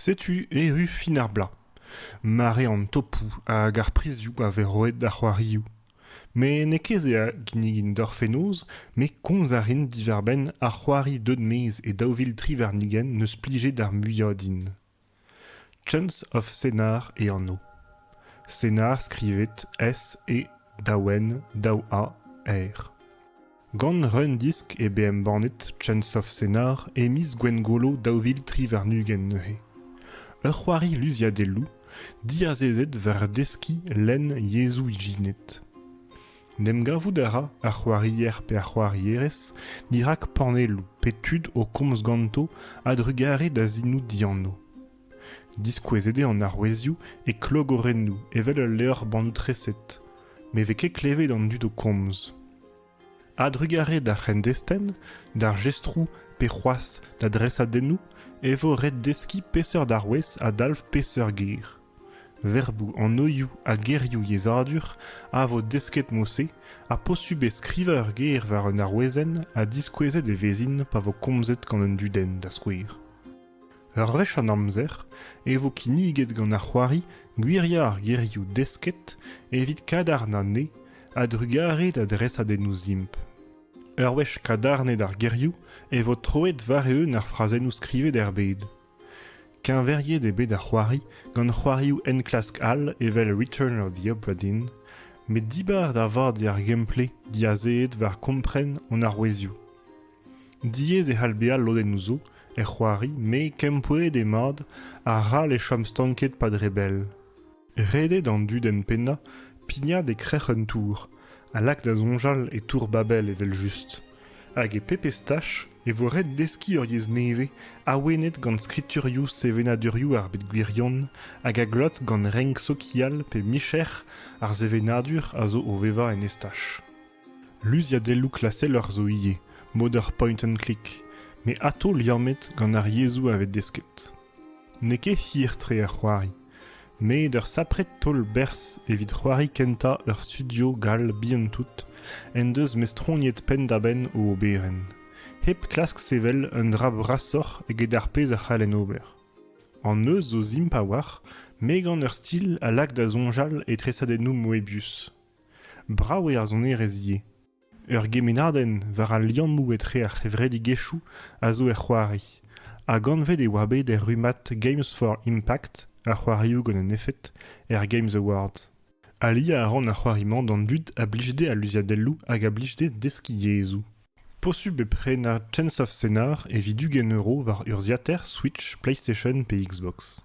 Setu erru fin ar bloaz, mare an topoù hag ar prizioù a vez roet d'ar c'hoarioù. Met n'eo ket se a ginnigin deoc'h fenoz, met komz a rin diwar-benn ar c'hoari deut maez e daou vil tri warn-ugent 'neus plijet ar muiañ din. Chance of Cénar e anv. Cénar skrivet S-E daou-N daou-A-R. Gant un disk eo bet embannet Chance of Cénar e miz Gwengolo daou vil tri warn-ugent neuze. Ur c'hoari luziadelloù diazezet war deskiñ lenn yezhoù ijinet. En em gavout a ra ar c'hoarier pe ar c'hoarierez dirak panelloù pe tud o komz ganto a-drugarez da zinoù dianv. Diskouezet eo an arouezioù e klogorennoù evel ul levr bannoù-treset, ne vez ket klevet an dud o komz. A-drugarez d'ar c'hendestenn, d'ar jestroù pe c'hoazh da dresadennoù e vo ret deskiñ peseurt arouez a dalv peseurt ger. Verboù, anoioù ha gerioù yezhadur a vo desket mod-se ha posubl eo skrivañ ur ger war un arouezenn ha diskouezet e vezint pa vo komzet gant un dudenn da skouer. Ur wech an amzer e vo kinniget gant ar c'hoari Gwiriañ ar gerioù desket evit kadarn anezhe a-drugarez da dresadennoù simpl. Ur wech kadarnet ar gerioù e vo troet war-eeun ar frazennoù skrivet er bed. Keñveriet eo bet ar c'hoari gant c'hoarioù enklask all evel Return of the Obra Dinn, met dibar da vat eo ar gameplay diazeet war kompren hon arouezioù. Diaes e c'hall bezañ lodennoù zo er c'hoari met kempouez eo mat arall e chom stanket pa dre bell. Ret eo d'an dudenn pennañ pignat e-krec'h un tour ha lak da soñjal e tour Babel evel-just. Hag e pebezh tach e vo ret deskiñ ur yezh nevez awenet gant skriturioù sevenadurioù ar bed gwirion hag a glot gant renk sokial pe micher ar sevenadur a zo o vevañ en estaj. Luziadelloù klaseller zo ivez, mod ar point-and-click, met atao liammet gant ar yezhoù a vez desket. N'eo ket hir-tre ar c'hoari, met ur sapred taol-berzh evit c'hoari kentañ ur studio gall bihan-tout en deus mestroniet penn-da-benn o oberenn, hep klask sevel un dra brasoc'h eget ar pezh a c'hallen ober. An neuz zo simp a-walc'h, met gant ur stil a lak da soñjal e tresadennoù Moebius. Brav eo ar sonerezh ivez. Ur gemennadenn war al liammoù etre ar c'hevredigezhioù a zo er c'hoari, hag anvet e oa bet er rummad Games for Impact, ar c'hoarioù gant un efed, er Games Awards. Aliañ a ran ar c'hoari-mañ d'an dud a blij dezhe al luziadelloù hag a blij dezhe deskiñ yezhoù. Posubl e prenañ Chance of Cénar evit ugent euro war urzhiataer Switch, PlayStation pe Xbox.